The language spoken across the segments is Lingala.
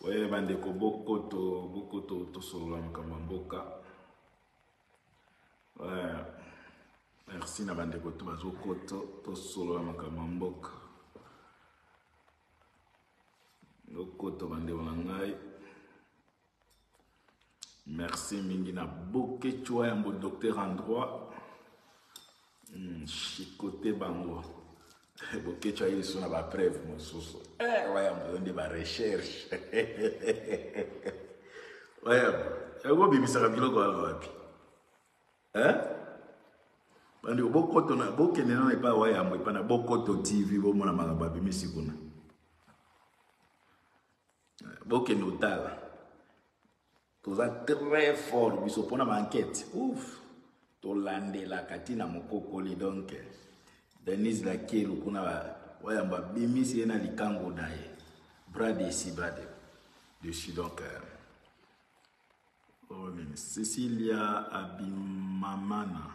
oye bandeko bokoto bokoto tosolola makambo ya mboka merci na bandeko to bazokoto tosolola makambo ya mboka lokoto bandeko na ngai Merci mingi na Bokechua yango docteur en droit. Hmm, chicote bango. Bokechua yesu na ba preuve mosusu. Eh, waya mbondi ba recherche. Waya, yango bimisaka biloko wana wapi? Eh? Bandi bokoto na bokende na epa waya mbo epa na bokoto TV bomona makambo abimisi kuna. bokende otala toza très fort biso mpona baenquete ouf tolandelaka ntina mokokoli donk denise lakelu kuna wayambo abimisi ye na likango na ye bras desi bras de dessus donc euh, Oyo nini Cecilia Abimamana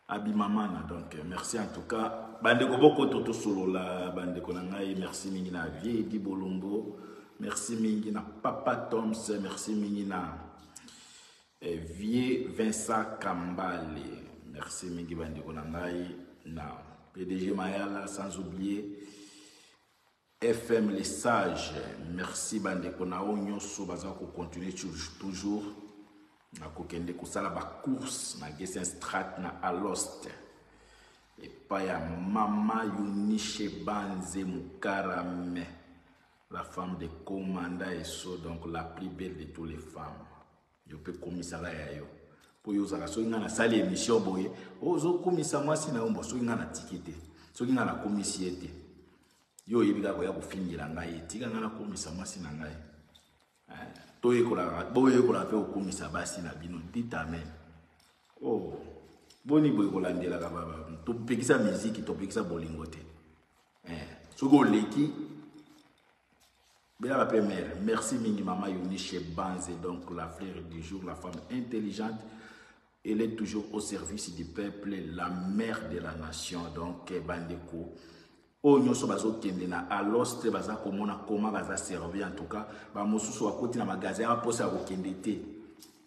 Abimamana donc merci en tout cas bandeko bokoto tosolola bandeko na ngai merci mingi na vie di bolongo merci mingi na papa toms merci mingi na eh, vieux vincent kambale merci mingi bandeko na ngai na pdg mayala sans oublier FM les sages merci ba ndeko na o nyoso baza ko continuer toujours na ko kende ko sala ba course na Gessen Strat na Alost epa ya mama Yunishe Banze Mukarame la femme de commanda et so donc la plus belle de toutes les femmes yo mpe komisaka ya yo mpo yo ozalaka soki ngai nasali émission boye ozokumisa mwasi na yo mbo soki ngai natiki te soki ngai nakumisi ye te yo oyebi kaka koya kofingela ngai ye tika ngai nakumisa mwasi na ngai eh, toyekolaka boyekola mpe kokumisa basi na bino ditame o oh, boni boye kolandelaka topekisa miziki topekisa bolingo te eh, soki oleki Belala pe mère, merci mingi maman Eunice Banze, donc la frère du jour, la femme intelligente. Elle est toujours au service du peuple, la mère de la nation, donc eh, bandeko. oyo nyonso bazokende na alos te baza komona koma baza servi en tout cas bamosusu bakoti na magasin ya mposa ya kokende te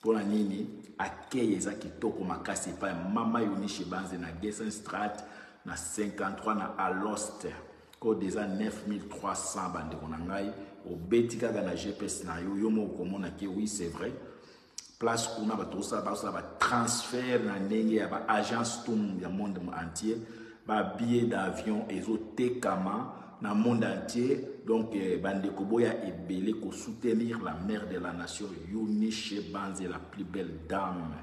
Pona nini accueil eza kitoko makasi epai mama Eunice Banze na Gessenstraat na 53 na Alost code eza 9300 ba ndeko na ngai obeti kaka na GPS na yo yo moko komona ke oui c'est vrai place kuna bato osala basala ba transfert na ndenge ya ba agence tum ya monde entier Ba billets d'avion ezo tekama na monde entier donc eh, ba ndeko boya ebele ko soutenir la mère de la nation Eunice Banze la plus belle dame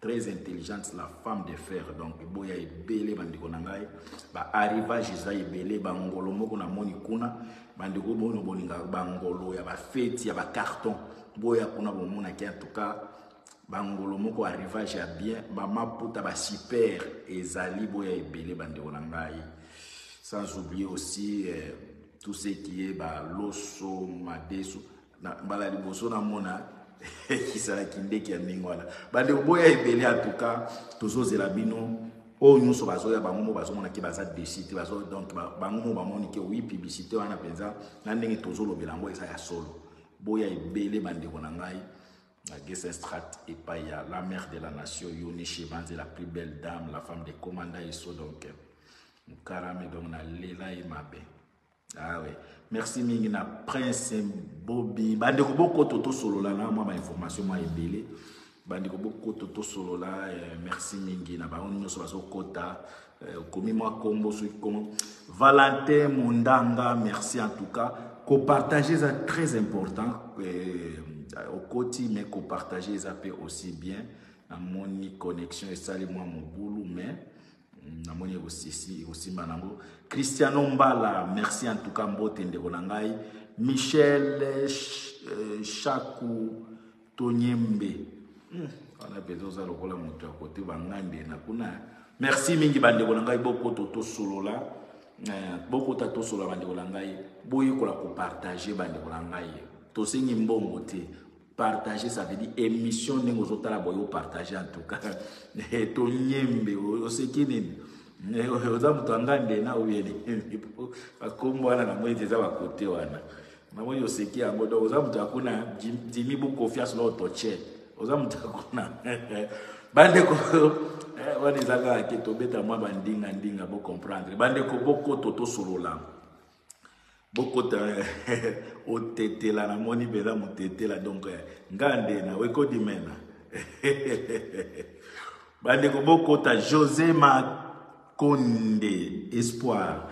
très intelligente, la femme de fer. Donc, boya ebele bandeko na ngai, ba arrivage eza ebele ba ngolo moko na moni kuna, bandeko bono boninga ba ngolo ya ba feti ya ba carton. Boya kuna bomona ki en tout cas bangolo moko arrivage ya bien mama puta ba super ezali boya ebele bandeko na ngai sans oublier aussi eh, tout ce qui est ba loso madesu na mbala liboso namona kisalaki ndeke ya ndenge wana bandeko boya ebele en tout cas tozozela bino oyo nyonso bazoya bango mo bazomonaki baza desi te bazo donc bango mo bamoni ke wi publicité wana mpenza na ndenge tozolobela yango eza ya solo boya ebele bandeko na ngai na Gesenstraat epai ya la mère de la nation Yone Shebanze la plus belle dame la femme de commanda Esso donc Mukarame donc na lela ye mabe ah oui merci mingi na prince Bobby bandeko bokoto tosolola na mwa ba information mwa ebele bandeko bokoto tosolola eh, merci mingi na bango nyonso bazokota Eh, okomi mwa kombo soki kombo valentin mondanga merci en tout cas kopartage eza très important eh, okoti mais kopartage eza mpe aussi bien namoni connexion esali mwa mobulu mais mm, namoni ekosimba nango cristiano mbala merci en tout cas mbote ndeko na ngai michel eh, chaku tonyembe wana mpenza oza lokola moto ya kote bangande na kuna merci mingi bandeko na ngai bokoto tosolola eh, bokota tosolola bandeko na ngai boyekola kopartage bandeko na ngai tosengi mbongo te partage ça veut dire émission ndenge ozotala boye opartage en tout cas eh, tonyembe oseki nini eh, oza moto ya ngande na oyeli bakombo wana na moi eza bakote wana namoni oseki yango donc oza moto ya kuna dimi bu confiance na otoche oza moto ya kuna bandeko eh, wana eza kaka ke tobeta mwa bandinga ndinga bocomprendre bandeko bokoto tosolola bokota otetela namoni mpenza motetela donc eh, nga nde na wekodimena bandeko bokota josé makonde espoir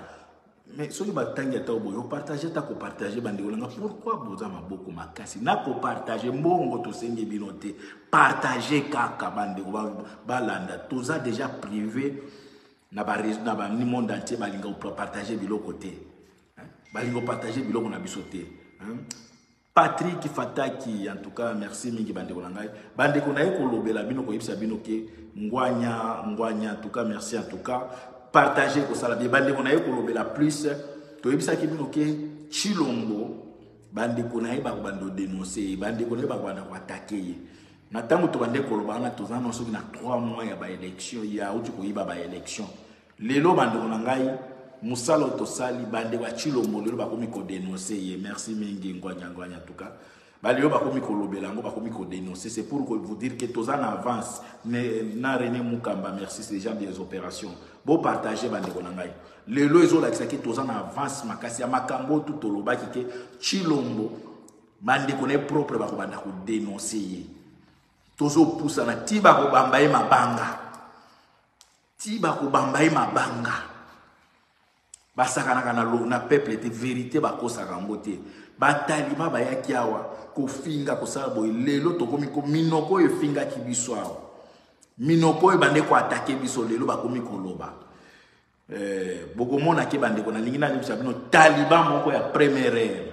mais soki batangi ata boye opartage ata kopartage bandeko na nga pourkui boza maboko makasi na kopartage mbongo tosengi bino te partage kaka bandeko balanda toza deja prive na bamonde entier balinga kopartage biloko te balinga kopartage biloko na biso te Patrick Fataki en tout cas merci mingi bandeko na ngai bandeko na ye kolobela bino koyebisa bino ke ngwanya ngwanya en tout cas merci en tout cas partage kosala bie bandeko na ye kolobela plus toyebisaki bino ke chilombo bandeko na ye bakobanda odenonse ye bandeko na ye bakobanda koatake ye na ntango tobande koloba wana toza na soki na 3 mois ya baélection ye auti koyiba baélection Lelo bandeko na ngai musala oyo tosali bandeko ya Chilombo lelo bakomi ko denoncer ye merci mingi ngwanya ngwanya tuka balelo bakomi kolobela yango bakomi kodenonce c'est pour vous dire que toza na avance na rené mukamba merci c'est déjà des opérations bopartage bandeko na ngai lelo ezolakisa ke toza na avance makasi ya makambo oyo tu tolobaki ke chilombo bandeko na ye propre bakobanda kodenonce ye tozopusana ti bakobamba ye mabanga ti bakobamba ye mabanga basakanaka na, na peuple te verité bakosaka yango te batalima bayaki awa kofinga kosala boye lelo tokomi minoko oyo efingaki biso awa minoko oyo bande koatake biso lelo bakomi koloba eh, bokomonake bandeko nalingi nayebisa bino taliba moko ya première heure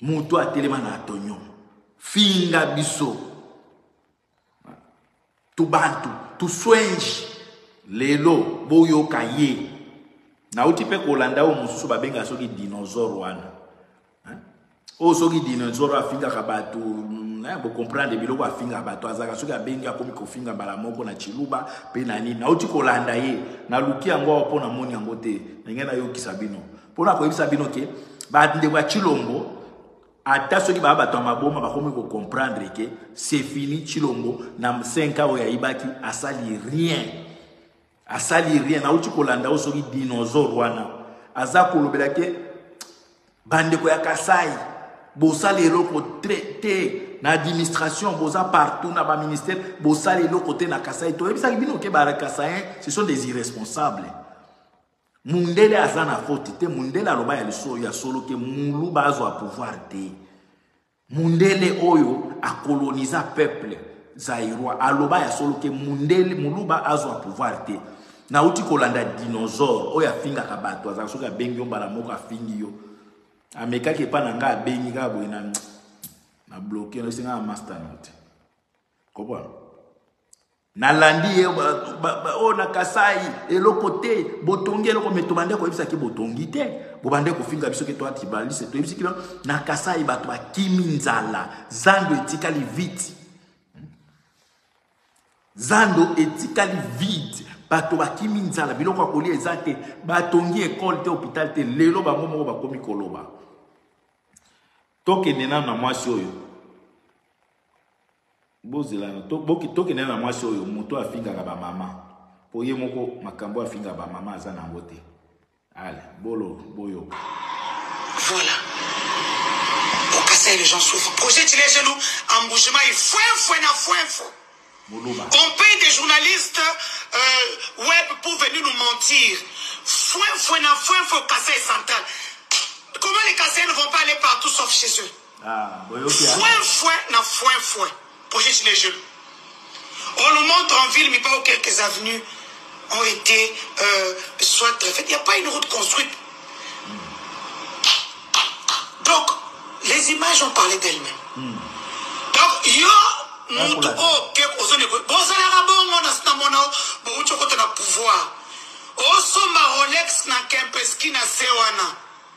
Moto atelema na atonyo. Finga biso. Tubantu, tuswenji. Lelo boyoka ye. Nauti pe kolanda oyo mosusu babenga soki dinosaure wana. Oyo soki dinosaure afingaka bato eh, bocomprendre biloko afingaka bato azalaka soki abengi akomi kofinga mbala moko na chiluba mpe na nini nauti kolanda ye naluki yango awa mpo namoni yango te ndenge nayokisa bino mpo na koyebisa bino ke bandeko ya chilombo ata soki baa bato ya maboma bakomi kocomprendre ke se fini chilombo na 5 oyo ayibaki asali rien asali rien nauti kolanda yo soki dinosaure wana aza kolobela ke bandeko ya kasai bosala eloko te na administration boza partout na baministère bosala eloko te na kasai toyebisaki bino ke bakasayen ce sont des irresponsables mundele aza na faute te mundele aloba ya liso ya solo ke muluba azwa pouvoir te mundele oyo akoloniza peuple zairoi aloba ya solo ke mundele muluba azwa pouvoir te nauti kolanda dinosaure oyo afingaka bato azala soki abengi yo mbala moko afingi yo amekaki epai na ngai abengi kaka boye na na bloke na esenga na master note Comprends? nalandi ye oyo na kasai eloko te botongi eloko me tobande koyebisaki botongi te bobande kofinga biso ke toa tribaliste toyebisi kino na kasai bato bakimi nzala zando etikali vite zando etikali vide bato bakimi nzala biloko ya kolia eza te batongi ekole te hopital te lelo bango moko bakomi koloba tokende nano na mwasi oyo bozela tokende na mwasi oyo moto afingaka bamama mpo ye moko makambo afinga bamama aza na yango te ale bolo boyoka voilà okasai les gens souffre projet tile gelu embouchement ye fuenfue na fuenfo on paye des journalistes euh, web pour venir nous mentir fuenfue na fuenfo kasai central comment les kasai ne vont pas aller partout sauf chez eux Fuenfue na fuenfue projet cinegel on nous montre en ville mibao quelques avenues ont été euh, soit très faites il n'y a pas une route construite donc les images ont parlé d'elles-mêmes hmm. donc yo moto oyo ke ozoni bozalaka bongo na sina mona bouti okota na pouvoir osomba rolex na kempeski na se wana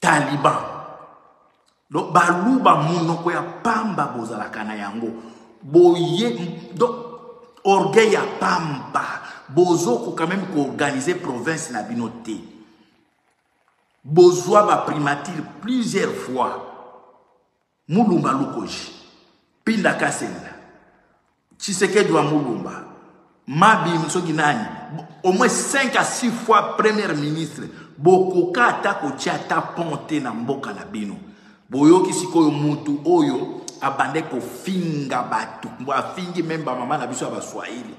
taliban donc baluba monoko ya pamba bozalaka na yango boye donc orgueil ya pamba bozokoka meme koorganize province na bino te bozwa baprimature plusieurs fois Mulumba Lukoji, Pinda Kasenga, Tshisekedi wa Mulumba, Mabim soki nani, au moins 5 à 6 fois premier ministre, bokoka ata kotia ata pont te na mboka na bino. Boyoki sikoyo mutu oyo abande kofinga bato mbo afingi meme bamama na biso ya baswahili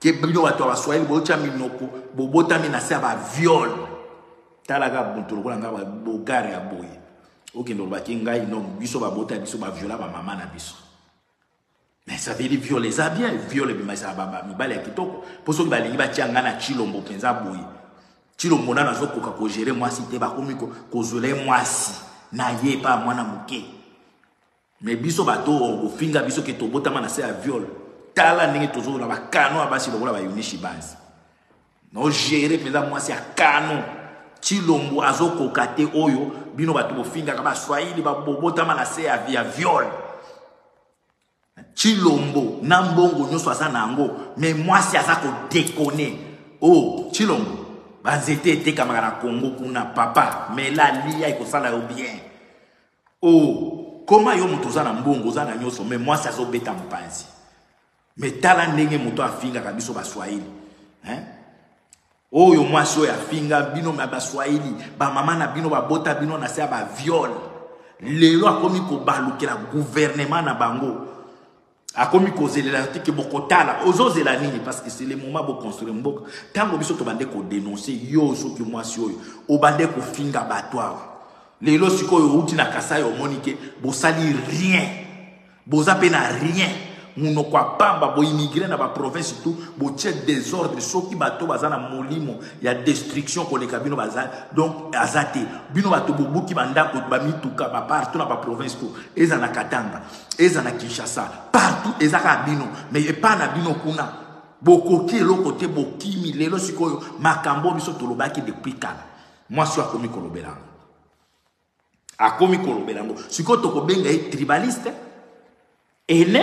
ke bino bato ya baswahili bootya minoko bobotami na se ya baviole talaka moto lokola ngai bogare ya boye okende obaki ngai no biso babota ya biso baviola bamama na biso mais ça veut dire viole eza bien viole ebimaisa mibali ya kitoko mpo soki balingi batya ngai na chilombo mpenza boye chilombo nano azokoka kogere mwasi te bakomi kozwela ye mwasi na ye epa mwana moke Mais biso bato oyo bofinga biso ke tobotama na se ya viol. Tala ndenge tozo na ba canon ya basi lokola ba Yunishi base. No gérer peza mwasi ya canon. Chilombo azo koka te oyo bino bato bofingaka ba Swahili ba bobotama na se ya via viol. Chilombo na mbongo nyoso aza na yango mais mwasi aza ko déconner. Oh Chilombo banzete etekamaka na Congo kuna papa mela lia ekosala yo bien. Oh comment yo moto oza na mbongo oza na nyoso mais mwasi azo beta mpanzi mais tala ndenge moto afingaka biso ba swahili hein oyo mwasi oyo afinga bino na ba swahili ba mama na bino babota bino na se ya ba viol lelo akomi kobalukela gouvernement na bango akomi kozelela te ke bokotala ozozela nini parce que c'est le moment boconstruire mboka ntango biso tobande kodenonse yo soki mwasi oyo obande kofinga bato awa lelo sikoyo outi na kasai omoni ke bosali rien boza mpe na rien monoko ya pamba boimmigre na baprovince tout botie desordre soki bato baza na molimo ya destruction koleka bino baza donc aza te bino bato bobuki bandako bamituka bapartout na baprovince tout eza na katanga eza na kinshasa partout eza kaka bino mais epai na bino kuna bokoki eloko te bokimi lelo sikoyo makambo oyo biso tolobaki depuis kala mwasi oyo akomi kolobela yango akomi kolobela yango sikoyo tokobenga ye tribaliste ene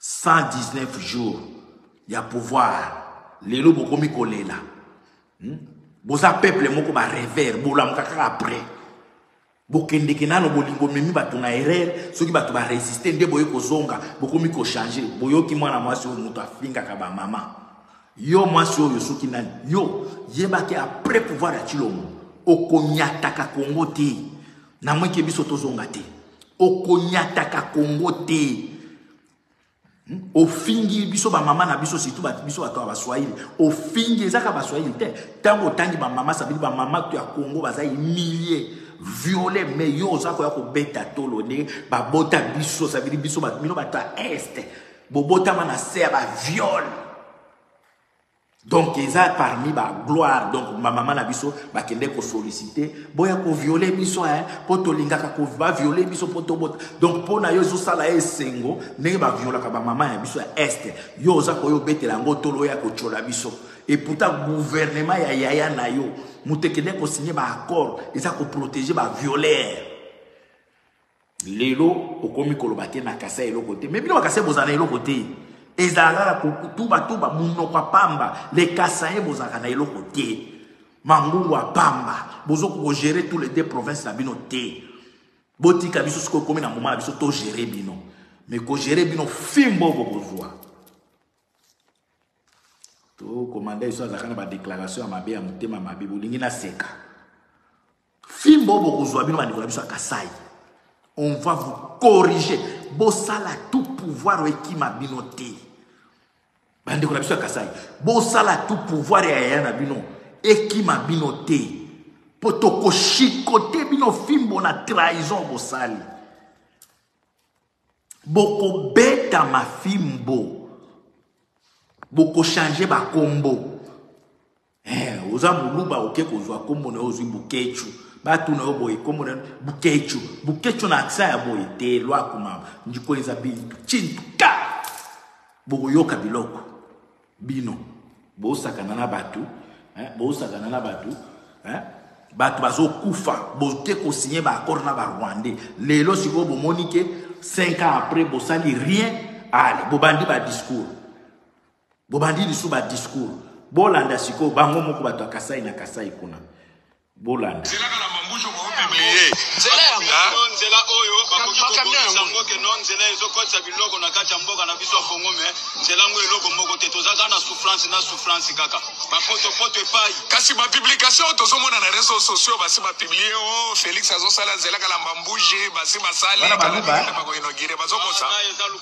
119 jours ya pouvoir lelo bokomi kolela hmm? boza peuple moko ba revere bolamuka kaka après bokendeke nano bolingo memi bato na erreur soki bato baresiste nde boye kozonga bokomi kochange boyoki mwana mwasi oyo moto afingaka bamama yo mwasi oyo soki nani yo yebaki après pouvoir ya cilombo okonyataka kongo te na mweke biso tozonga te okonyataka kongo te hmm? ofingi biso bamama na biso surtout biso bato ya baswahili ofingi ezaka baswahili te ntango otangi bamama sabili bamama to ya kongo baza emilie viole me yo oza koya kobeta tolo nde babota biso sabili biso bino bato ya este bobotama na se ya baviole donc eza parmi ba gloire donc bamama na biso bakende kosolicite boya koviole biso hein, mpo tolingaka baviole biso mpo tobota donc mpo na yo ezosala ye esengo ndenge baviolaka bamama ya biso ya este yo oza koya obetela yango tolo ya kotyola biso eputa guvernema ya yaya na yo moto ekende kosigne baaccord eza koprotege baviolere lelo okomi koloba te na kasai eloko te mais bino bakasai bozala na eloko te ezalaka kaka kotubatuba monoko ya pamba le kasaye bozalaka na eloko te mangungu ya pamba bozoki kogere tous les deux province na bino te botika biso soki okomi na moma na biso togere bino mais kogere bino fimbo bokozwa tokomanda biso azalaka na badéclaration ya mabe ya motema mabe bolingi naseka Fimbo bokozwa bino bandeko na biso ya Kasai. On va vous corriger. Bosala tout pouvoir ekima bino te. Bandeko na biso ya Kasai. Bosala tout pouvoir ya yaya na bino ekima bino te. Po tokoshikote bino fimbo na trahison bosali. Bokobeta mafimbo. Bokochange bakombo. Eh, oza muluba oke kozwa kombo na yo ozwi buketshu batuna yo boye kombo na yo buketshu buketshu na aksa ya boye te lwaku mama ndiko eza bintu chintu ka bokoyoka biloko bino bosakana na bato eh, bosakana na bato eh, bato bazokufa boke kosinye baaccord na barwandais lelo sikoyo bomoni ke 5 ans après bosali rien ale bobandi badiscours bobandi lisu ba discours bolanda siko bango moko bato ya kasai na kasai kuna bolanda nzela oyo bakoki kokomisa yango ke no nzela ezokotisa biloko na kati ya mboka na biso ya kongo me nzela yango eloko moko te toza kaka na souffrance na souffrance kaka bapotopoto epai kasi bapublikation oyo tozomona na réseau sociaux basi bapiblie o oh, félix azosala nzela kalamba mbuje basi basali bakoinogire bazokosa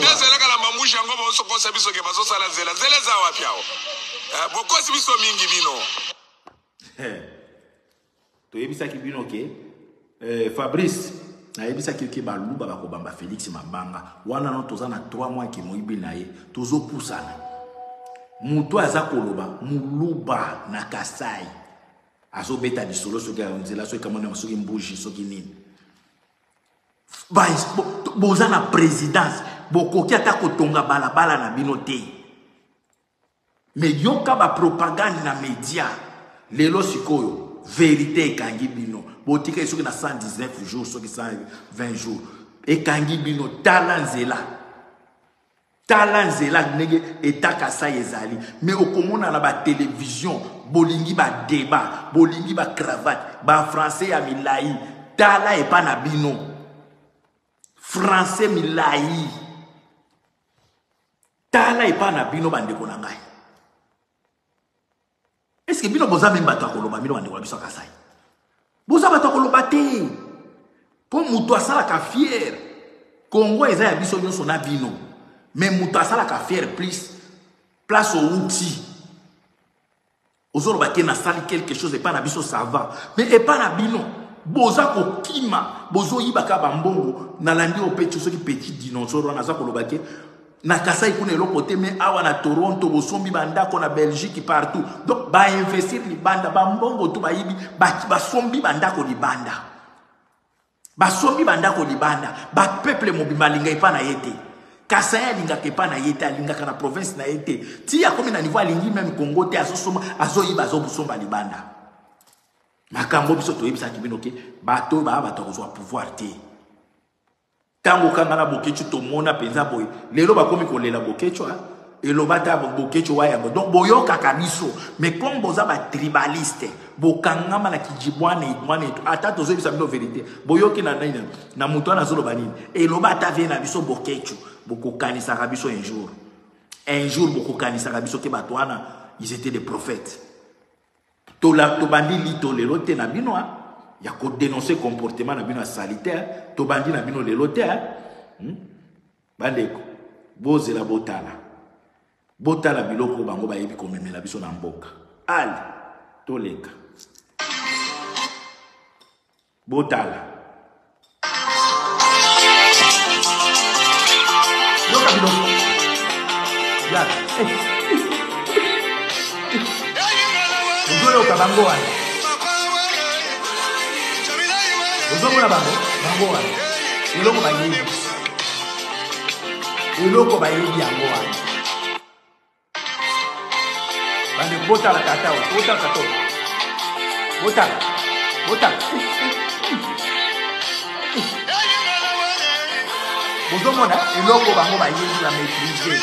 nazalaka na mambushi yango baosokosa biso ke bazosala nzela nzela eza wapi awa eh, bokosi biso mingi bino eh, toyebisaki bino ke eh, fabrice nayebisaki yo ke baluba bakobamba félix mabanga wana no toza na 3 mois ke moyibi na ye tozopusana moto aza koloba moluba na kasai azobeta lisolo soki nzela soki kamona soki mbuji soki nini boza na présidence bokoki ata kotonga balabala na bino te me yoka bapropagande na média lelo sikoyo verité ekangi bino botikali soki na 119 jours soki 120 jours ekangi bino tala nzela tala nzela ndenge eta kasai ezali me okomona na batelevizio bolingi badeba bolingi bacravate bafrancais ya milai tala epa na bino francais milai tala epa na bino bandeko na ngai Est-ce que bino boza meme bato ya koloba bino bandeko na biso ya Kasai? Boza bato ya koloba te. Mpo moto asalaka fiere. Kongo eza ya biso nyonso na bino. Mais moto asalaka fiere plus place outi. Ozoloba te nasali quelque chose epai na biso ça va. Mais epai na bino boza kokima bozoyibaka bambongo nalandi opecho soki petit dinosaure wana aza koloba te na kasai kuna eloko te me awa na toronto bosombi bandako na belgique partout donc bainvestir libanda bambongo to bayibi basombi bandako libanda basombi bandako libanda bapeuple mobimba alinga epa na ye te kasai alingaka epa na ye te alingaka na province na ye te ti akomi na niveau alingi meme congo te azosomba azoyiba azobosomba libanda makambo biso toyebisaki bino ke bato oyo baa bato ya kozwa pouvoir te Tango kanga na Boketshu tomona penza boye. Lelo bakomi kolela Boketshu hein. eloba ata bokecho wa yango donc boyokaka biso mais comme boza batribaliste bokangama na kijibwana idwana etu ata tozoyebisa bino verité boyoki na nini na moto wana azoloba nini eloba ata vie na biso bokecho bokokanisaka biso un jour un jour bokokanisaka biso ke bato wana ils étaient des prophètes Tola tobandi lito lelo te na bino hein. ya ko dénoncer comportement na bino ya salite hein. tobandi na bino lelo te hein. hmm? bandeko bozela botala botala biloko bango bayebi komemela biso na mboka ale toleka Botala. Yoka bino. Ya. Ozoyoka bango wana. Ozomona bango, bango wana. Eloko bayebi. Eloko bayebi yango wana. bande botala tata oyo botala tata oyo botala botala bozomona eloko bango bayebi na maîtrise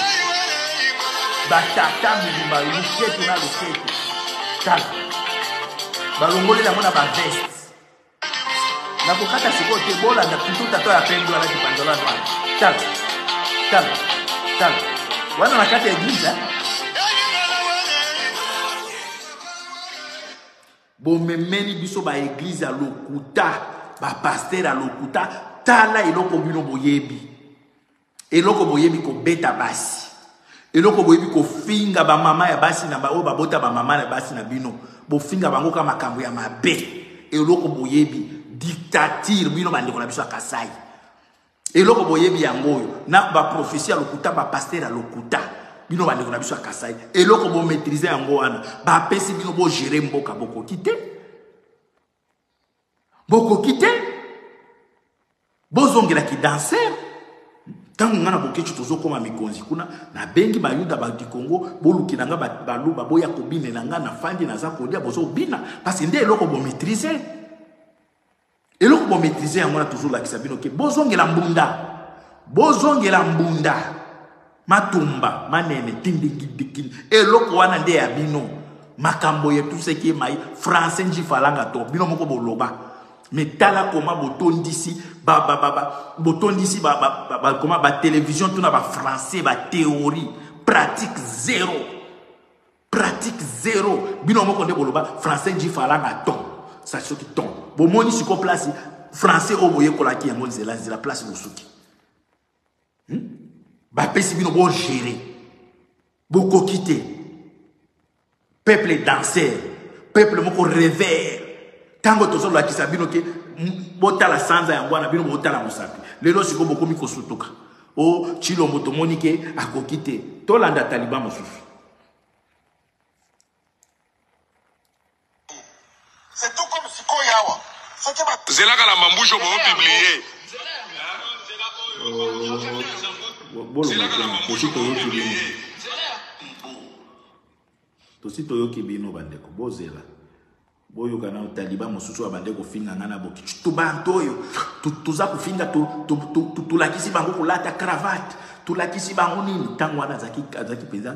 batata mobimba luketu na luketu tala balongoli yango na baveste nakokata sikoyo te bolanda plutôt tata ya pembe wana kipanzolani wana tala tala tala wana na kati ya eglise bomemeli biso baeglize ya lokuta bapaster ya lokuta tala eloko bino boyebi Eloko boyebi kobeta basi. Eloko boyebi kofinga ba mama ya basi na ba oyo babota ba mama na basi na bino. Bofinga bango ka makambo ya mabe. Eloko boyebi dictature bino bandeko na biso ya Kasai. Eloko boyebi yango oyo na ba prophetie ya lokuta ba pasteur ya lokuta. Bino bandeko na biso ya Kasai. Eloko bo maîtriser yango wana. Ba pesi bino bo gérer mboka bokoki te. bokoki te bozongela kidanser ntango ngai na bokeci tozokoma mikonzi kuna nabengi bayuda badi kongo bolukela ngai baluba boya kobinela ngai na fandi naza kolia bozobina mpasi nde eloko bomaitrise eloko bomaitrise yango wana tozolakisa bino ke bozongela mbunda bozongela mbunda matumba manene tindikindikin eloko wana nde ya bino makambo ya tuseki mai français njifalanga to bino moko boloba me tala koma botondisi ba, ba, ba, ba, botondisi ba, ba, ba, ba, koma batelevision to na bafrançais batheorie pratique zero pratique zero bino moko nde boloba français njifalanga to sa soki ton bomoni siko place français oyo boyekolaki yango nzela nzela place bosuki hmm? bapesi bino bogere bokoki te peuple danser peuple moko revere ntango tozolakisa bino ke botala sanza yango wana bino botala mosapi lelo sikoyo bokomi kosutuka o oh, chilombo tomoni ke akoki te tolanda taliban mosusu Zela kala mambusho bo publie. Zela kala mambusho bo publie. Tosi toyoki bino bandeko bozela boyoka na taliba mosusu abande kofinga ngai na boki tubanto oyo toza kofinga tolakisi bango kolata cravate tolakisi bango nini ntango wana azalaki mpenza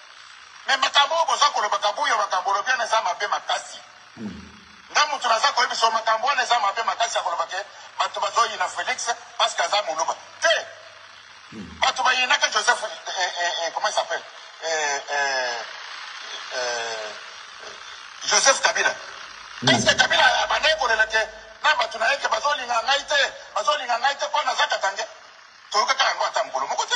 Mais makambo oyo boza koloba kabuya makambo olobi wana eza mabe makasi nga mutu naza koyebisa yo makambo wana eza mabe makasi ya koloba ke bato bazoyina felix parce que aza moluba te bato bayinaka joseph eh, eh, eh, eh comment il s'appelle eh, eh, eh, joseph kabila parce que kabila abandaki kolela ke na bato na ye ke bazolinga ngai te bazolinga ngai te mpo naza katange toyokaka yango ata mokolo moko te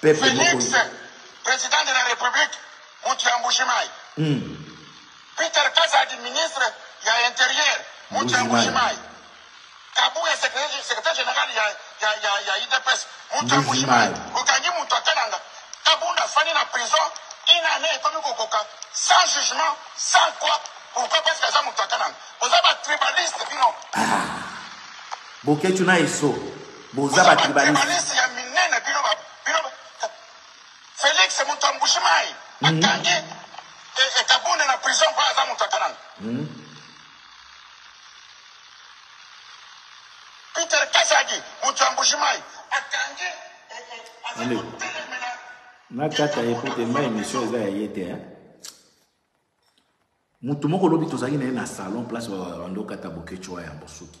peuple moko Felix ye. president de la republique mutu ya mbuji mayi. Hum. Peter kazadi ministre ya interieur mutu ya mbuji mayi. Kabuya secretaire secretaire general ya ya ya ya udps mutu ya mbuji mayi. Okangi mutu ya kananga. Kabund afandi na prison une annee ekomi kokoka sans jugement sans quoi pourquoi parce que aza mutu ya kananga. Boza ba tribaliste bino. Ah. Boketshu na esso. Boza ba tribalistes. Na kata ye po te ma emission eza ya ye te hein. moto moko lobi tozalaki na ye na salon place bandokata bokecua ya bosuki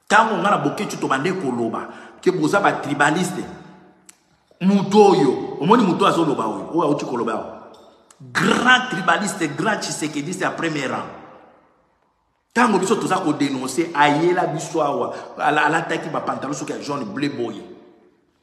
Tango nga na Boketshu tobande koloba ke boza ba tribaliste, moto oyo omoni moto azo loba oyo oyo auti koloba awa grand tribaliste grand tshisekediste ya premier rang ntango biso toza kodenonse ayela biso awa alataki bapantalon soki ya jaune ble boye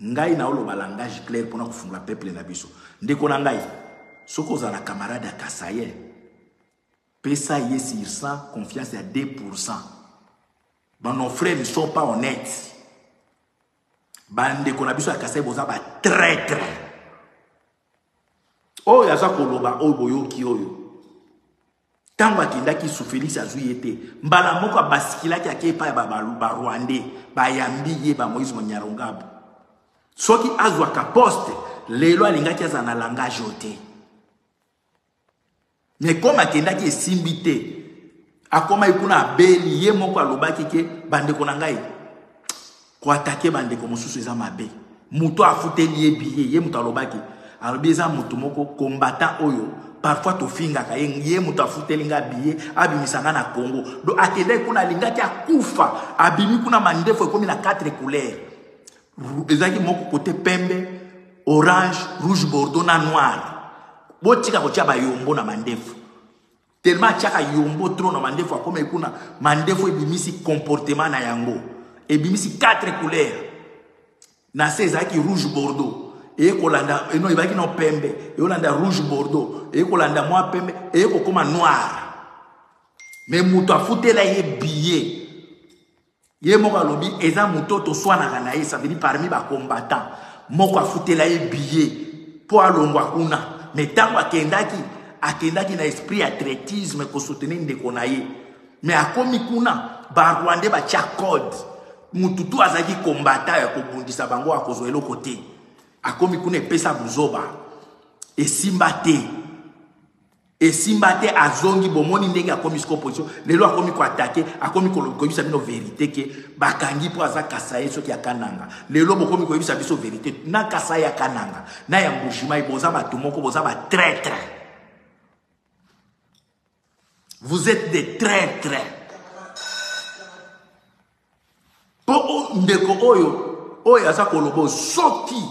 Ngai nao loba langage claire pona ko fungola peuple na biso. Ndeko na ngai, soki ozala na camarade ya Kasaien, pesa ye sur 100 confiance ya 2%. Ba nos frères ne sont pas honnêtes. Ba ndeko na biso ya Kasaien boza ba traitre. Oyo aza koloba oyo boyoki oyo. ntango akendaki su felix azwi ye te mbala moko abasikilaki ake epai ya barwandais bayambi ye bamoise monyarongabu soki azwaka poste lelo alingaki azala na langage oyo te me kome akendaki esimbi te akomaki kuna abeli ye moko alobaki ke bandeko na ngai Ko attaquer ba ndeko mosusu eza mabe. Mutu afuteli ye billet, ye mutu alobaki. Alobi eza mutu moko combattant oyo parfois tofingaka ye ye moto afuteli ngai biye abimisa ngai na congo do akendaki kuna alingaki akufa abimi kuna mandefu ekomi na 4 couleur ezalaki moko kote pembe orange rouge bordeaux na noir botika kotya bayombo na mandefu Tellement atiaka yombo trop na mandefu akoma ekuna mandefu ebimisi comportement na yango. Ebimisi quatre couleurs. Na se ezalaki rouge bordeaux. Eye kolanda eno ebaki na pembe, eolanda rouge bordeaux, eye kolanda mwa pembe, eye kokoma noir. Mais moto afutela ye billet ye moko alobi eza moto toswanaka na ye ça veut dire parmi ba combattant moko afutela ye billet mpo alongwa kuna mais ntango akendaki akendaki na esprit ya traitisme kosoutenir ndeko na ye mais akomi kuna barwandais batya code motu tu azalaki kombata ya kobundisa bango akozwa eloko te akomi kuna epesa buzoba esimba te Esimba te azongi bomoni ndenge akomi siko opposition lelo akomi ko attaquer akomi koyebisa bino verite ke bakangi mpo aza kasaye soki ya kananga lelo bokomi koyebisa biso verite na kasaye ya kananga na ya mbujimayi boza bato moko boza ba traitre vous êtes des traitre mpo ndeko oyo oyo aza kolobo soki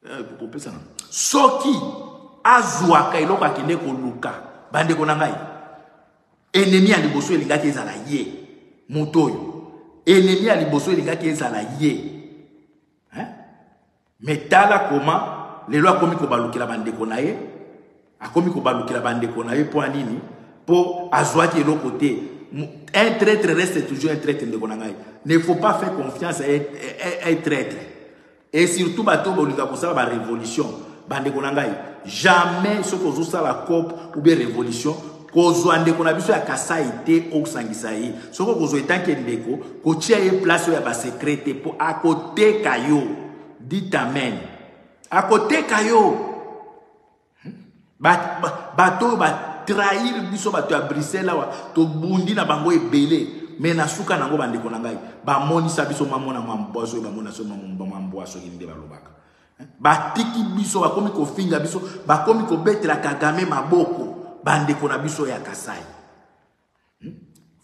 eh, kopesana soki azwaka eloko akende koluka bandeko na ngai enemi ya liboso elingaki ezala ye moto oyo enemi ya liboso elingaki ezala ye eh? me tala koma lelo akomi kobalukela bandeko na ye akomi kobalukela bandeko na ye mpo ya nini mpo azwaki eloko te un traitre reste toujours un traitre ndeko na ngai ne faut pas faire confiance à un traitre Et surtout bato oyo bolinga kosala ba révolution bandeko na ngai jamais soki ozosala cop ou bien révolution kozwa ndeko na biso ya kasai te okosangisa ye soki okozwa etanke ndeko kotia ye place oyo ya basekre te mpo akoteka yo dit amen akoteka yo bato oyo batrahir biso bato ya bruxelles awa tobundi na bango ebele me na suka na yango bandeko na ngai bamonisa biso mamona mambwa soki bamona so mambwa soki nde balobaka batiki biso bakomi kofinga biso bakomi kobetela kagame maboko bandeko na biso ya kasai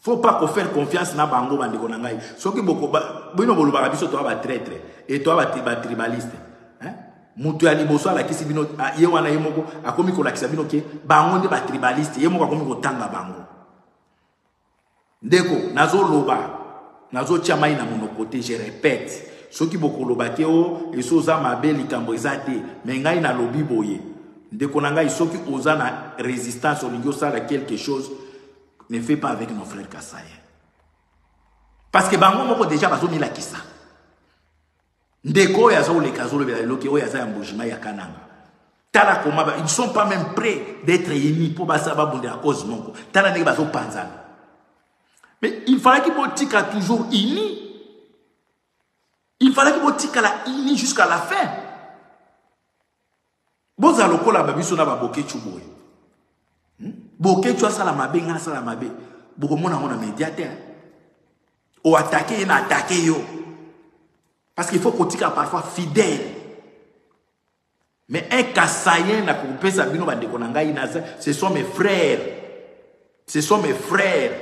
Faut pas ko faire confiance na bango ba ndeko na ngai. Soki boko bino bolobaka biso to ba traitre et to ba ba tribaliste. Hein? Mutu ya liboso alakisi bino ah, ye wana ye moko akomi kolakisa bino ke bango nde ba tribaliste ye moko akomi kotanga bango. Ndeko nazo loba Nazo tia mai na monoko te, je repète. Soki bokoloba ke o oh, esi oza mabe likambo eza te, mais ngai nalobi boye. Ndeko na ngai soki oza na resistance olingi osala quelque chose, ne fais pas avec nos frères Kasaïens. Parce que bango moko déjà bazo milakisa. Ndeko oyo aza oleka azo lobela loki oyo aza ya mbujima ya Kananga. Tala koma ils ne sont pas même prêts d'être unis pour basa babundela cause moko. Tala ndenge bazo panzana. Mais il fallait qu'il botika toujours unis. Il fallait qu'il botika la unis jusqu'à la fin. Boza lokola babiso na ba boketchu boye. Hmm? Boketchu asala mabe nga asala mabe. Bokomona ngo na médiateur. O attaquer na attaquer yo. Parce qu'il faut kotika parfois fidèle. Mais un Kasayen na kopesa bino bandeko na ngai naza, ce sont mes frères. Ce sont mes frères.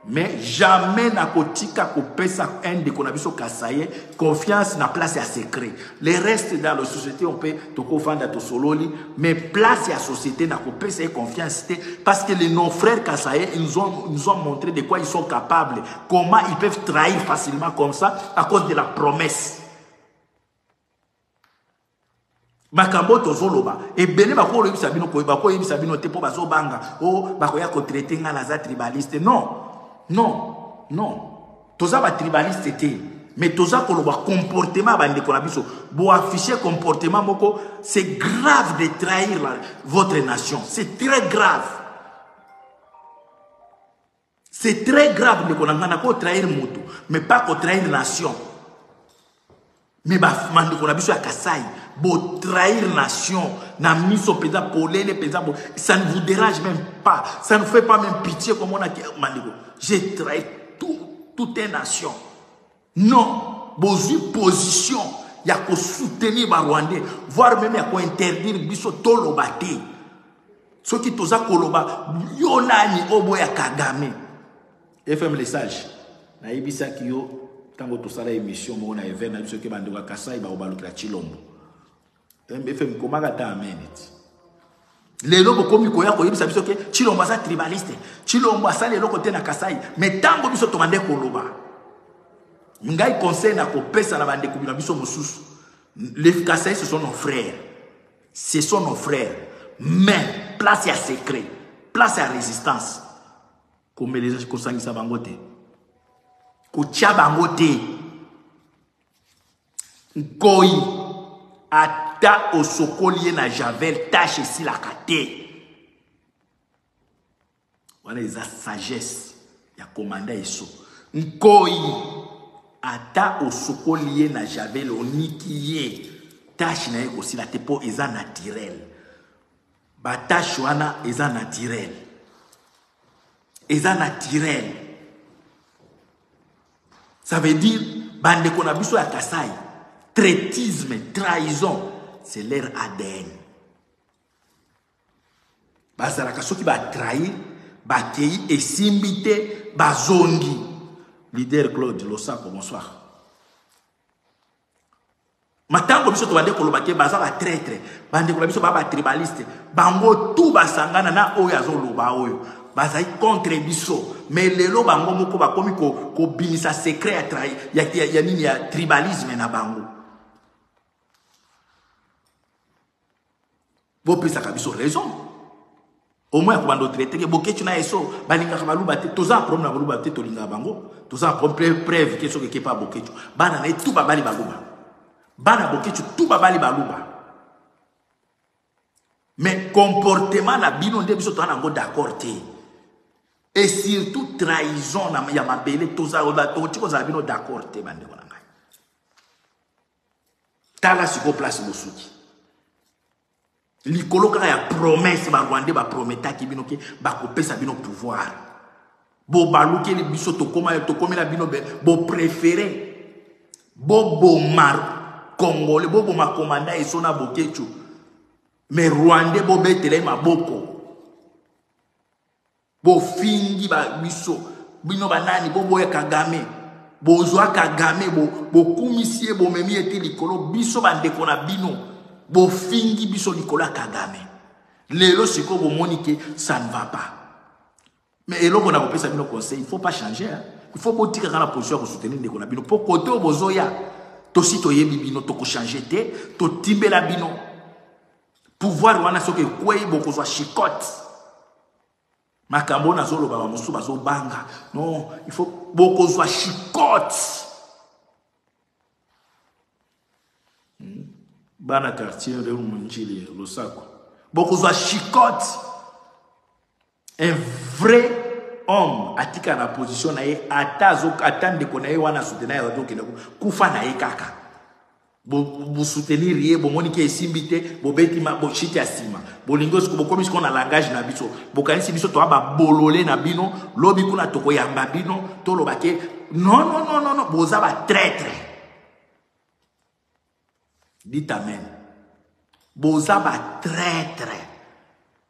Mais jamais na kotika kopesa un ndeko na biso Kasayen confiance na place ya secret. Les restes dans la société on peut toko vanda to sololi, mais place ya société na kopesa confiance te parce que les non frères Kasayen ils nous ont nous ont montré de quoi ils sont capables, comment ils peuvent trahir facilement comme ça à cause de la promesse. makambo oyo tozoloba ebele bakoyebisa bino koye bakoyebisa bino te mpo bazobanga o oh, bakoya kotraite ngai naza tribaliste non non non toza batribaliste te mais toza koloba comportement ya bandeko na biso boaffiche comportement moko c'est grave de trahir la, votre nation c'est très grave C'est très grave, ndeko na nga, nako trahir moto, mais pas ko trahir nation. Mais ba mandeko na biso ya Kasaï, bo trahir nation, na miso peza polele peza bo, ça ne vous dérange même pas, ça ne fait pas même pitié comme on a mandeko. J'ai trahi tout, toute une nation. Non, bozui position ya ko soutenir ba rwandais, voire même ya ko interdire biso toloba te. Soki toza koloba yo nani obo ya Kagame. FM le sage, nayebisaki yo tango tosala emission moko na event na biso ke bandeko ya Kasai bakobalukela Chilombo. MFM komaka ata ameniti. Lelo bokomi koya koyebisa biso ke Chilombo aza tribaliste. Chilombo asali eloko te na Kasai. Mais tango biso tobande koloba. Ngai conseil na kopesa na bande kubina biso mosusu. Les Kasai ce sont nos frères. Ce sont nos frères. Mais place ya secret, place ya résistance. Komeleza kosangisa bango te. Kotia bango te. Nkoyi ata osokoli ye na javel tache esilaka te wana eza sagesse ya komanda eso nkoyi ata osokoli ye na javel oniki ye tache na ye ekosila te mpo eza naturel batache wana eza naturel eza naturel Ça veut dire, bande qu'on a besoin à Kassai, traitisme, trahison, c'est leur ADN. bazalaka soki batrahir bakei esimbi te bazongi leader claude losako bonsoir matango biso tobande koloba te baza batraitre bandeko na biso baa batribaliste bango tu basangana na oyo azoloba oyo bazali contre biso mais lelo bango moko bakomi kobimisa ko secret ya, trai, ya, ya, ya nini ya tribalisme na bango bopesaka biso raison au moins ko bando traité que boketchu na eso balingaka baluba te toza problème na baluba te tolingaka bango toza problème preuve que soki kepa boketchu bana na tout babali baluba bana boketchu tout babali baluba mais comportement na bino nde biso toza nango d'accord te et surtout trahison ya mabele toza tokoki kozala bino d'accord te bandeko na tala sikoyo place bosuki likolo kaka ya promese barwandais baprometaki bino ke bakopesa bino pouvoir bobalukeli biso tokomela bino boprefere boboma congolais boboma komanda eso na bokecu me rwandais bobetela ye maboko bofingi ba biso bino banani boboya kagame bozwa kagame bokumisi ye bomemi ye te likolo biso bandeko na bino bofingi biso likolo ya kagame lelo sikoyo bomoni ke ça ne va pas mais eloko na kopesa bino conseil il faut pas changer hein? il faut botikaka na position ya kosoutenir ndeko na bino mpo kote oyo bozoya tosi toyebi bino tokochange te totimbela bino pouvoir wana soki ekwei bokozwa chicote makambo oyo nazoloba bamosusu bazobanga non il faut bokozwa chicote hmm. bana quartier reu monjili losako bokozwa chicote un vrai homme atika na position na ye ata ata ndeko na ye wana asutena ye azokende kufa na ye kaka Bo, bo soutenir ye, bomoni ke esimbi te, bobeti ma, bo shit ya sima. Bolingo siko bokomi siko na langage na biso. Bokanisi biso toa ba bolole na bino, lobi kuna toko yamba bino, toloba ke non non non non non, boza ba traitre. Dites amen. Boza ba traitre.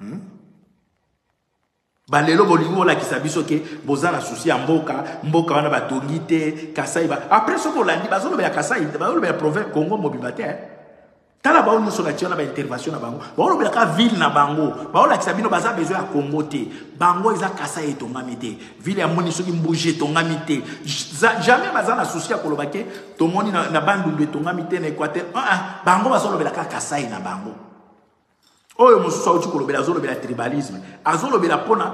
hmm? balelo bolingi bolakisa biso ke boza na susi ya mboka mboka wana batongi te kasai ba... apres soki olandi bazolobela kasai bazolobela province congo mobimba te eh? tala bango nyonso natia na baintervention na bango baolobelaka ville na bango baolakisa bino baza besoin ya congo te bango eza kasai etongami te ville ya moni soki mbuji etongami te jamais baza na souci ya koloba ke tomoni na, na bandundu etongami te na équateur uh -uh. bango bazolobela kaka kasai na bango oyo mosusu auti kolobela azolobela tribalisme azolobela mpona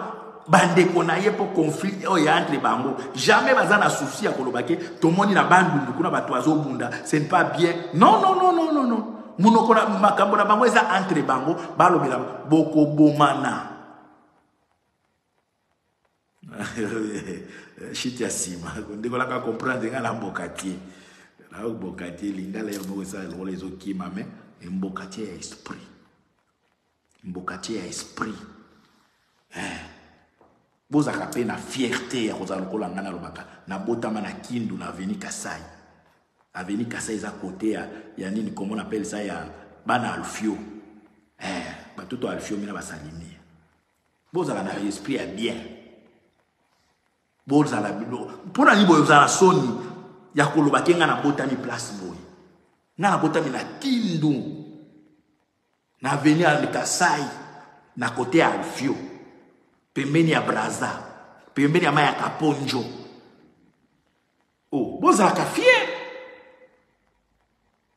bandeko na ye mpo conflit oyo ya entre bango jamais baza na souci ya koloba ke tomoni na bandundu kuna bato azobunda ce ne pas bien non non non non non non monoko na makambo na bango eza entre bango balobela bokobomana shit ya nsima ndeko nanga comprendre nga na mbokatier na mbokatier lingala yo moko esala lokola ezokima me mbokatier ya esprit mbokatier ya esprit eh. bozalaka mpe na fierte ya kozala lokola ngai nalobaka nabotama na kindu na aveni kasai aveni kasai eza kote ya, ya nini komo napelisa ya bana alfio eh, batoto alfio mina basalimi bozala na esprit ya bien bozala bino mpo na nini boye ozala soni ya koloba te ngai nabotami place boye ngai nabotami na kindu na aveni ya kasai na kote ya alfio pembeni ya braza pembeni ya mai ya kaponjo o oh, bozalaka fier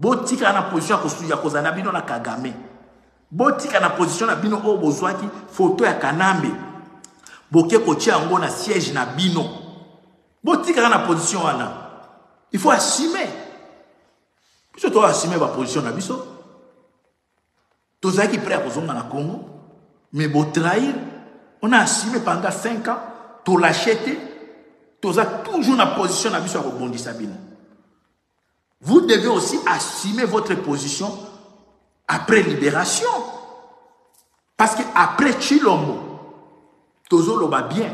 Botika na position ya kozala na bino na Kagame. Botika na position na bino oyo bozwaki foto ya Kanambe. Boke kotia yango na siège na bino. Botika na position wana. Il faut assumer. Biso to assumer ba position na biso. Tozaki prêt à kozonga na Congo, mais bo trahir, on a assumé pendant 5 ans, to l'acheter, toza toujours na position na biso ya kobondisa bino. Vous devez aussi assumer votre position après libération. Parce que après Chilombo, tozoloba bien,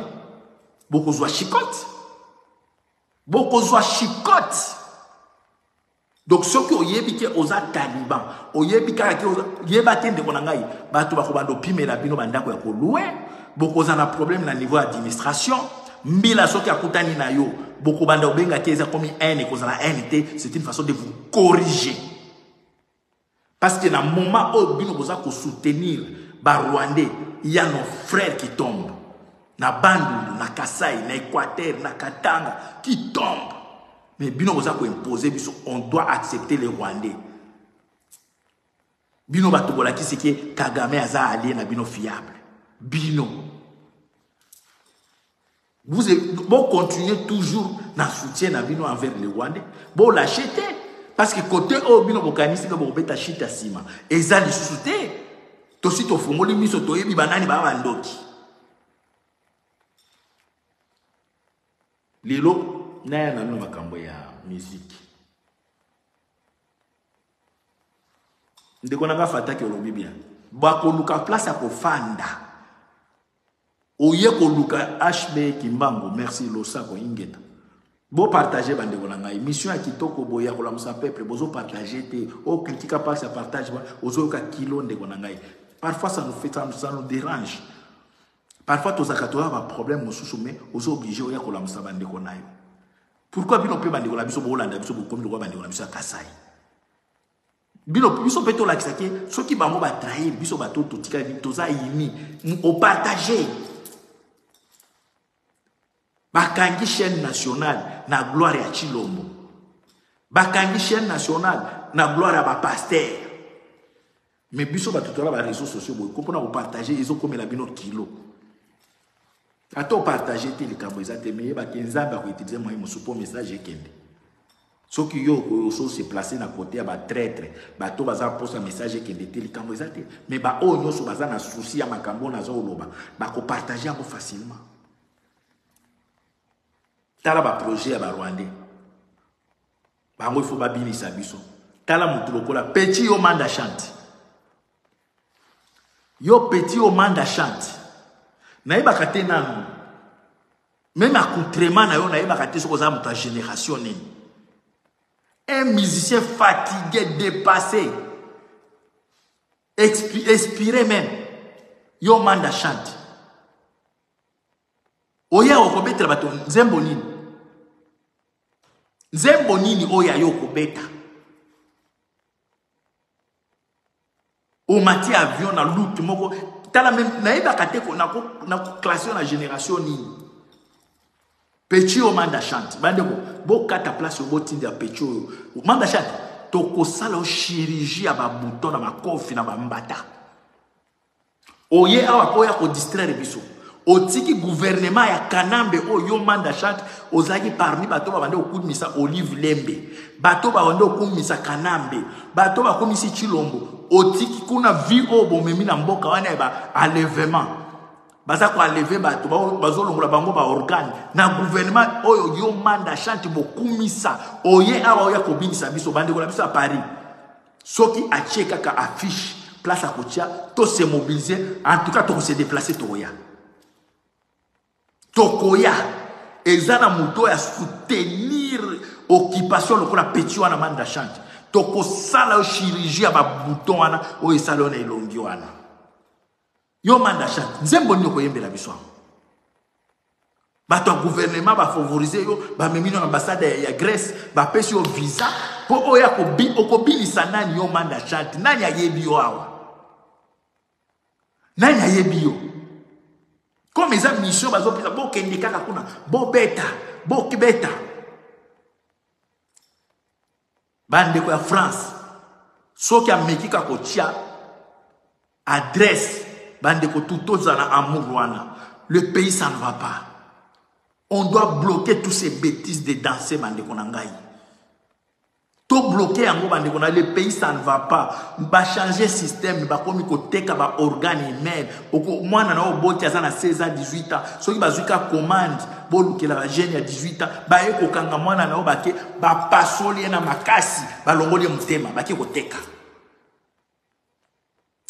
bokozwa chicote. Bokozwa chicote. Donc soki oyebi ke oza taliban, oyebi kaka ke oza yeba te ndeko na ngai, bato bakobanda opimela bino bandako ya kolue, bokozala na problème na niveau ya administration. Mbila soki akutani na yo, bokobanda obenga te eza komi haine ekozala haine te, c'est une façon de vous corriger. Parce que na moment oyo bino boza ko soutenir ba rwandais, il y a nos frères qui tombent. Na Bandundu, na Kasaï, na Équateur, na Katanga qui tombent. Mais bino boza ko imposer biso, on doit accepter les rwandais. Bino bato bolakisi ke Kagame aza allié na bino fiable. Bino. Vous bon continuez toujours na soutien na bino envers les Rwandais. Bon lâchez te parce que côté oyo oh, bino bokanisi ke bokobeta shit ya nsima eza lisusu te. Tosi tofungoli miso toyebi banani baa bandoki. Lelo naya na bino makambo ya musique. ndeko na nga fataki olobi bien bakoluka place ya kofanda oye koluka hb kimbangu merci losako ingeta bopartage bandeko na ngai mission ya kitoko boye ya kolamusa peuple bozopartage te okritika oh, mpasi ya partage ozoyoka kilo ndeko na ngai parfois ça nous fait ça nous dérange parfois tozalaka toya baproblème mosusu mais ozo oblige oya kolamusa bandeko na yo Pourquoi bino pe bandeko na biso bolanda biso bokomi lokola bandeko na biso ya Kasai? Bino biso pe tolakisa ke soki bango ba trahir biso bato totikali toza imi o partager bakangi chaîne nationale na gloire ya Chilombo bakangi chaîne nationale na gloire ya ba pasteur Mais biso batu tola ba réseaux sociaux boye ko pona ko partager ezo komela bino kilo. Ata o partager te likambo eza te mais yeba ke Nzambe ako utiliser moyen mosusu po message ekende. Soki yo oso se placer na côté ya ba traître, bato baza posa message ekende te likambo eza te. Mais ba oyo nyonso baza na souci ya makambo na zo loba, ba ko partager yango facilement. Tala ba projet ya ba Rwandais. Bango il faut babilisa biso. Tala mutu lokola petit yo manda chante. Yo petit yo manda chante. Nayebaka te nanu. Même accoutrement na yo nayebaka te soki oza moto ya génération nini. Un musicien fatigué, dépassé, expi expiré même. Yo manda chante. Oya okobetela bato nzembo nini? nzembo nini oyo ya yo okobeta omati avion na lute moko tala meme nayebaka te nakoklase yo na génération nini peci oyo manda chante bandeko bokata place oyo botinda peci oyo manda chante tokosala yo chirurgie ya babouton na makofi na bambata oye awa mpo ya kodistraire biso otiki guvernema ya kanambe oyo yo manda chante ozalaki parmi bato babandi kokumisa olive lembe bato babandi kokumisa kanambe bato bakumisi chilombo otiki kuna vi oyo bomemi na mboka wana ya baalevement baza koaleve bato bazolongola bango baorgane na guvernema oyo yo manda chante bokumisa oye awa oya kobinisa biso bandeko na biso ya paris Soki atie kaka affiche place akotia to se mobiliser en tout cas toko se déplacer tokoya tokoya eza na moto oyo asoutenir occupation lokola petit wana manda chante tokosala yo chirurgie ya babouton wana oyo esala yo na elongi wana Yo manda chat, nzembo nini okoyembela biso yango? Bato ya gouvernement bafavorize yo, bamemi yo na ambassade ya, ya Grèce, bapesi yo visa mpo oyo akobi, okobilisa nani yo manda chat? Nani ayebi yo awa? Nani ayebi yo? Comme eza mission bazopesa bokende kaka kuna, bobeta, bokibeta. bandeko ya france soki ameki ka kotia adresse bandeko tu tozala amour wana le pays ça ne va pas on doit bloquer tous ces bêtises de danse bandeko na ngai tobloke yango bandeko na le pays ça ne va pas bachange système bakomi koteka baorgane humaine mwana na oboti aza na 16 ans 18 ans soki bazwi ka commande bolukela bajeune ya 18 ans baye kokanga mwana na yo bake bapasoli ye na makasi balongoli ye motema bake koteka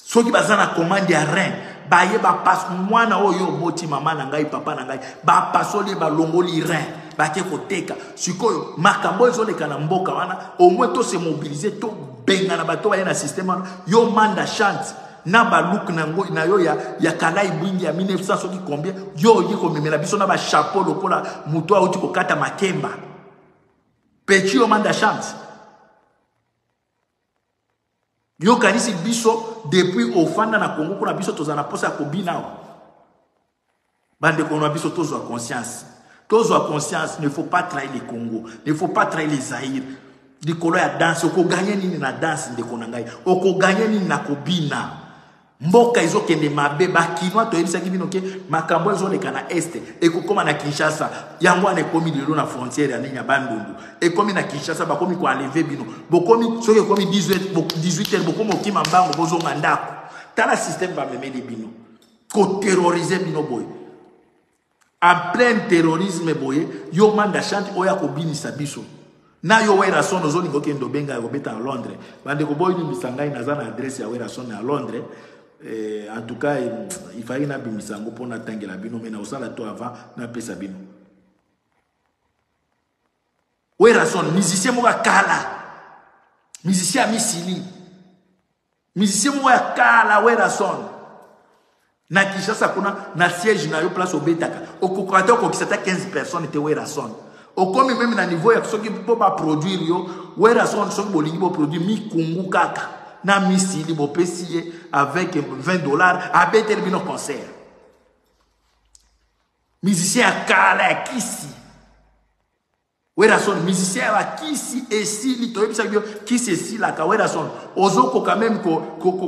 soki baza na commande ya rein baye bapas mwana oyo oboti mama na ngai papa na ngai bapasoli ye balongoli rein bake koteka sikoyo makambo ezoleka na mboka wana omoi tose mobilize tobengana bato baye na systeme wana yo manda chante na balook na yango na yo ya, ya kalai bwingi ya 1900 soki combien yo oye komemela biso na bachapeau lokola moto auti kokata makemba peti yo manda chance yokanisi biso depuis ofanda na kongo kuna biso tozala na mposa ya kobina awa Bandeko na biso tozwa conscience. Tozwa conscience, ne faut pas trahir le Congo, ne faut pas trahir les Zaïre. Likolo ya danse, okoganye nini na danse ndeko na ngai? Okoganye nini na kobina? mboka ezokende mabe bakinois toyebisaki bino ke makambo ezoleka na este ekokóma na kinshasa yango wana ekómi lelo na frontière ya nini ya bandundu ekómi na kinshasa bakómi koenleve bino bokomi soki ekómi 18 heure bokómi okima mbango bozonga ndako tala systeme bamemeli bino koterrorize bino boye en plein terrorisme boye yo manda chante oyo akobinisa biso na yo werason ozolinga okende obenga ya kobeta na londres bandeko boyinisa ngai naza na adresse ya werason na londres eh, en tout cas ifaki nabimisa yango mpo natangela bino me nakosala to avant napesa bino werason musicien moko akala musicien ya misili Musicien moko ya kala Werrason na Kinshasa kuna na siège na yo place obetaka okokoka te okokisa ata 15 personnes te Werrason okomi meme na niveau ya soki mpo baproduire yo Werrason soki bolingi boproduire mikungu kaka na misili bopesi ye avec 20 dollars abeteli bino concert musicien ya kala ya kisi Werrason musicien ya kisi esili toyebisa yo kisi esilaka Werrason ozokoka meme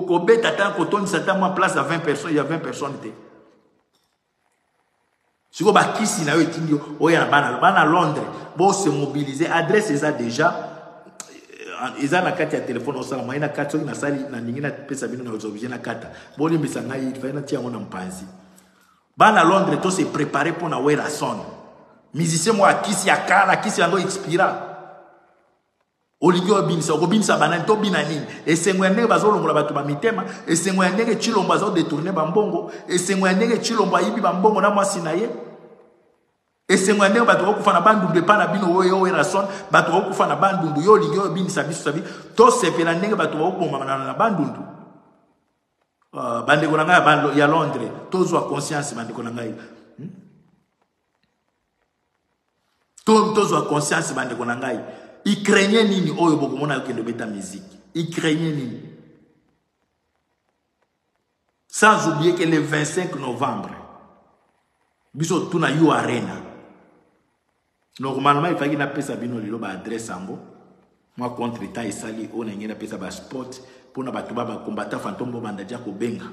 kobeta ata kotondisa ata mwa place ya 20 personnes ya 20 personnes te sikoyo bakisi na yo etindi yo oya na bana bana londres bose mobilise adresse eza déjà euh, eza na kati ya telefone osala mwaye na kati soki nasali nalingi napesa bino na objet na kata bolimbisa ngai fai natia yango na mpanzi Bana Londres to se preparer pour na Werrason. Musicien moi kisi ya kala, kisi yango expira. olingi obimisa okobimisa banani to bina nini esengo ya ndenge bazolongola bato ba mitema esengo ya ndenge chilombo azodetourne bambongo esengo ya ndenge chilombo ayibi bambongo na mwasi na ye esengo ya ndenge bato bakokufa na bandundu epai na bino oyo erason bato bakokufa na bandundu yo olingi oyo obimisa biso sabi tosepela ndenge bato bakobomamana na bandundu Uh, bandeko na ngai ya londres tozwa conscience bandeko na ngai hmm? tozwa conscience bandeko na ngai ukrainien nini oyo bokomona yo kende obeta miziki ukrainien nini sans oublier que le 25 novembre biso tuna yo arena Normalement il fallait napesa bino lelo ba adresse yango. Moi contre temps esali oyo na ngi napesa ba spot pona bato ba ba combattant fantôme bo banda dia ko benga.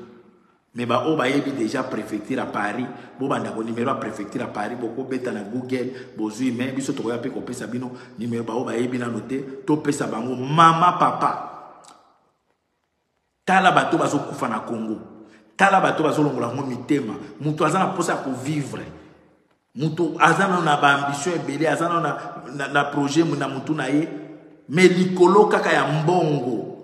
Mais ba oyo bayebi déjà préfecture à Paris, bo banda ko numéro à préfecture à Paris boko beta na Google bozui mais biso tokoya pe ko pesa bino numéro ba oyo bayebi na note to pesa bango mama papa. Tala bato bazo kufa na Congo. Tala bato bazo longola ngo mitema. Mutu aza na posa ko vivre. Mutu aza na na ba ambition ebele, aza na na, na projet na mutu na ye. Mais likolo kaka ya mbongo.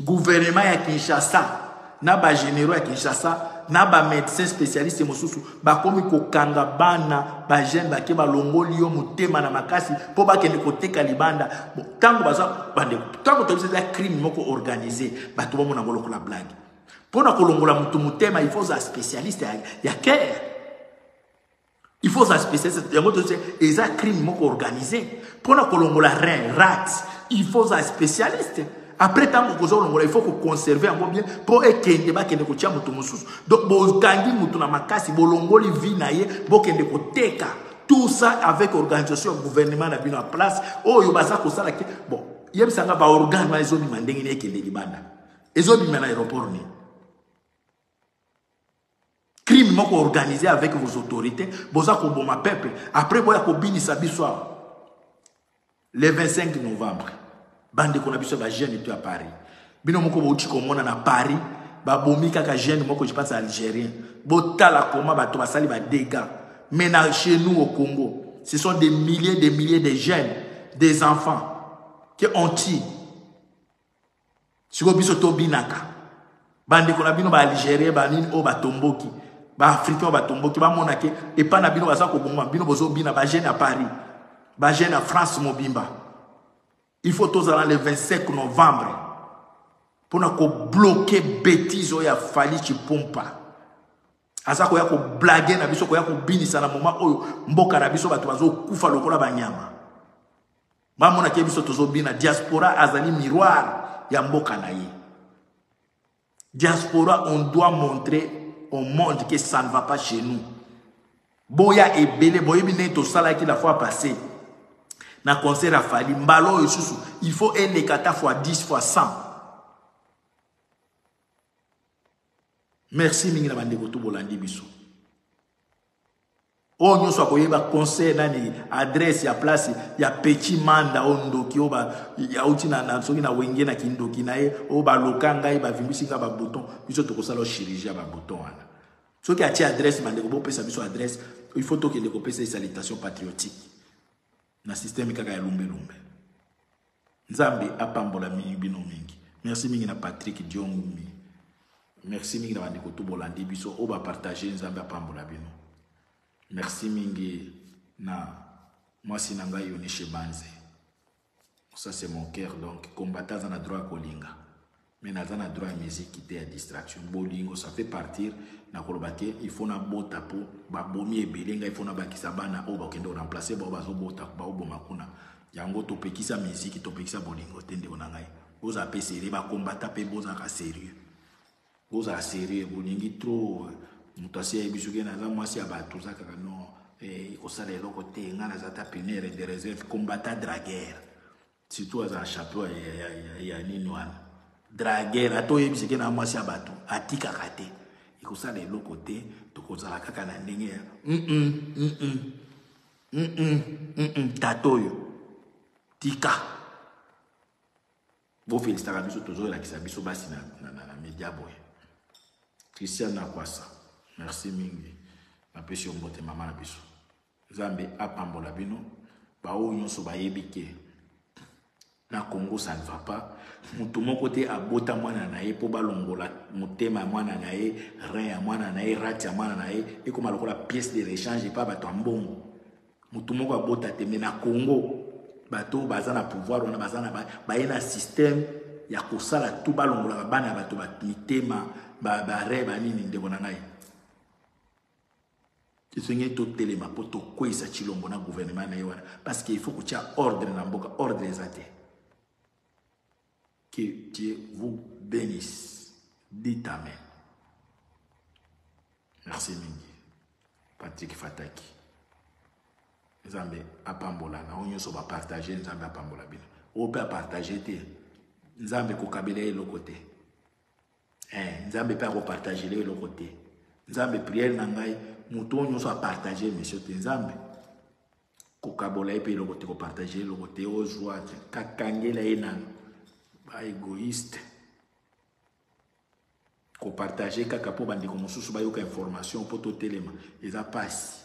Gouvernement ya Kinshasa na ba généraux ya Kinshasa na ba médecins spécialistes mosusu bakomi kokanga bana bajeune bake balongoli yo motema na makasi mpo bakende koteka libanda ntango baza bandeko ntango tobisa eza crime moko organise bato bamona yango lokola blague mpo na kolongola moto motema il faut oza spécialiste ya, ya care il faut oza spécialiste yango tobisa eza crime moko organise mpo na kolongola rein rat il faut oza spécialiste après ntango okoza olongola il faut koconserve yango bien mpo ekende bakende kotya moto mosusu donc bokangi moto na makasi bolongoli vie na ye bokende koteka tout ça avec organisation ya gouvernement na bino ya place oyo baza kosala te bon yebisa nga baorgane wana ezobima ndenge nini ekende libanda ezobima na aéroport nini crime moko organise avec vos autorités boza koboma peuple après boya kobinisa biso awa le 25 novembre bandeko na biso ya bajeune to ya paris bino moko bouti komona na paris babomi kaka jeune moko je pense algérien botala koma bato basali badega mais na chez nous au congo ce sont des milliers des milliers de jeunes des enfants qui ont tii sikoyo biso tobinaka bandeko na bino baalgérien banini oyo batomboki baafricain oyo batomboki bamona ke epai na bino baza kobongwa bino bozobina bajeune ya paris bajeune ya france mobimba il faut tozala le 25 novembre mpo na kobloke betise oyo ya fali cipompa aza koya koblage na biso koya kobinisa na moma oyo mboka na biso bato bazokufa lokola banyama Ba mona ke biso tozo bina diaspora azali miroir ya mboka na ye. Diaspora on doit montrer au monde que ça ne va pas chez nous. Boya ebele boyebi ne to salaki la fois passée. na concert ya fali mbala oyo lisusu il faut eleka ata fois 10 fois 100 merci mingi na bandeko to bolandi biso oyo nyonso akoyeba conseil nani adresse ya place ya petit manda oyo ndoki oyo auti soki na wenge na kindoki na ye oyo baloka ngai bavimbisi ngai babouton biso tokosala chirurgie ya babouton wana soki atie adresse bandeko bopesa biso adresse il faut tokende kopesa ye salitation patriotique na système kaka ya lumbe lumbe nzambe apambola mingi bino mingi merci mingi na patrick diongumi merci mingi na bandeko tu bolandi biso oyo bapartage nzambe apambola bino merci mingi na mwasi na ngai yonishe banze ça c'est mon cœur donc combattant aza na droit ya kolinga mais naza na droit ya musique te ya distraction bolingo ça fait partir nakoloba te il faut nabota mpo babomi ebele ngai il faut nabakisa bana oyo bakende koremplace bao bazobota baoboma kuna yango topekisa miziki topekisa bolingo te ndeko na ngai bozala mpe serie bakombata mpe bozalaka serieux bozala serieux bolingi trop moto asi ayebi soki naza mwasi ya bato oza kaka no ekosala eh, eloko te ngai naza ta punere de reserve combata draguere Surtout aza chapeau ya, ya, ya, ya, ya nini wana draguer ata oyebisi ke na mwasi ya bato atikaka te ekosala eloko te tokozala kaka na ndenge ya tata oyo tika bofelisitaka biso tozoyelakisa biso basi na, na, na, na media boye christian nakwasa merci mingi napesi yo mbote mama na biso Nzambe apambola bino baoyo nyonso bayebi ke na Congo ça ne va pas moto moko te abota mwana na ye mpo balongola motema ya mwana na ye rein ya mwana na ye rate ya mwana na ye ekoma lokola pièce de rechange epa bato ya mbongo moto moko abota te me na Congo bato oyo baza na pouvoir wana baza na baye na système ya kosala tu balongolaka bana ya bato mitema barei banini ndeko na ngai Esengeli totelema mpo tokweyisa Tshilombo na gouvernement na ye wana parce que il faut kotia ordre na mboka ordre eza te que Dieu vous bénisse dit amen merci mingi Patrick Fataki nzambe apambola na oyo nyonso bapartage nzambe apambola bino oyo mpe apartage te nzambe kokabela ye eloko te eh, nzambe mpe akopartagele eloko te nzambe priere na ngai moto oyo nyonso apartage emisio te nzambe kokabola ye mpe eloko te kopartage eloko te ozwa te kakangela ye nano baegoïste kopartage kaka mpo bandeko mosusu bayoka information mpo totelema eza mpasi